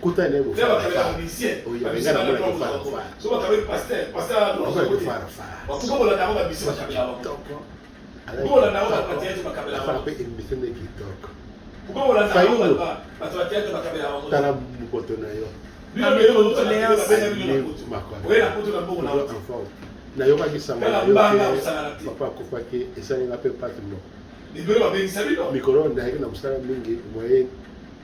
kota na ye bofarafarape emission nde kitoko tala mokoto na yo nayokaki sango papa akufaki esalinga mpe pati moko mikolo nayaki na mosala mingi moyen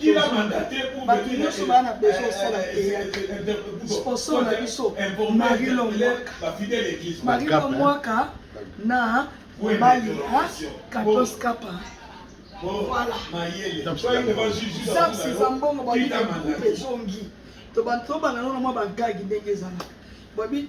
Kila mandat te pour bato nyonso baa na besoin osala teyatre sponsor na biso marilo mwaka marilo mwaka na mobali ya katos kapa sapsi eza mbongo babi ezongi tobanda nano na mwa bagagi ndenge ezalaka babi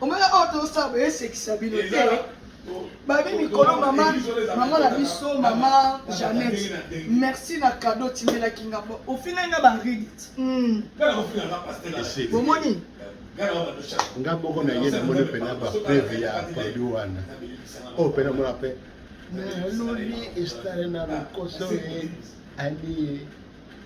omoni oyo tosala boyesekisa bino te babi mikolo mama mama na biso mama janet merci na kado otimelaki nga ofina nga baridit hmm. bomoni nga moko na ye namoni mpena bapreve ya padi wana oyo mpena mona mpe nalobi estale na lokoso ye ali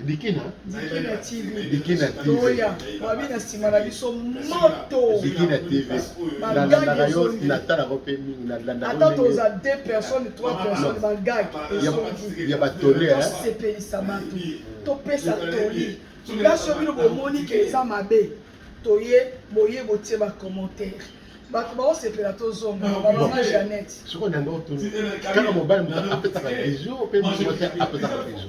Bikina Bikina TV Bikina TV Toya wabi na sima na biso moto Bikina TV na landaka yo na tala ko pe mingi na landaka ata toza deux personnes trois personnes ba gag ya ba tole hein sepelisa bato topesa toli place yo bino bomoni ke eza mabe toye boye botie ba commentaire bato baosepela tozonga bamama janete sikoyo nango tuni kaka mobali moto apesaka bizu mpe moto apesaka bizu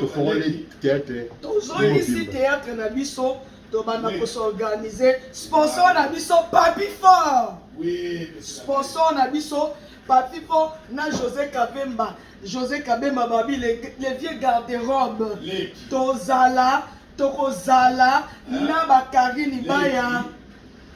tofongoli teatre tozongisi teatre na biso tobanda kosorganize sponsor na biso papi fort sponsor na biso papi fort na josé kabemba josé kabemba babi le, le vieux garde robe tozala tokozala na bakarine baya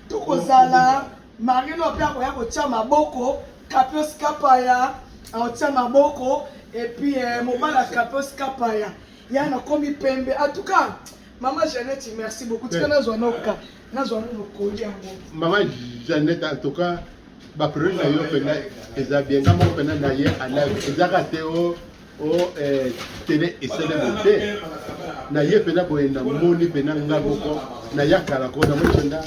tokozala Marie Lo pe akoya kotia maboko Kapios Kapaya akotia maboko et puis eh, mobali ya Kapios Kapaya ya nakomi pembe en tout cas mama Jeannette merci beaucoup tika nazwa noka nazwa no mokoli yango mama Jeannette en tout cas ba priorité na yo pena eza bien nga moko pena na ye alive ezaka te o oh. o oh, eh, tele esele mote na ye mpena boye na moni mpena nga moko na ya kala ko na moni mpena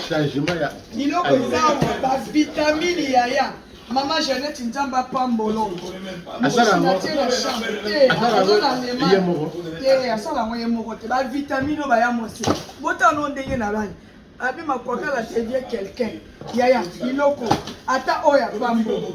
changement ya biloko eza awa bavitamine yaya mama jeannette nzambe apambolo asala yango ye moko te bavitamine oyo baya mosi botano ndenge na bani abi makwakala te vie quelqu'un yaya biloko ata oyo apambo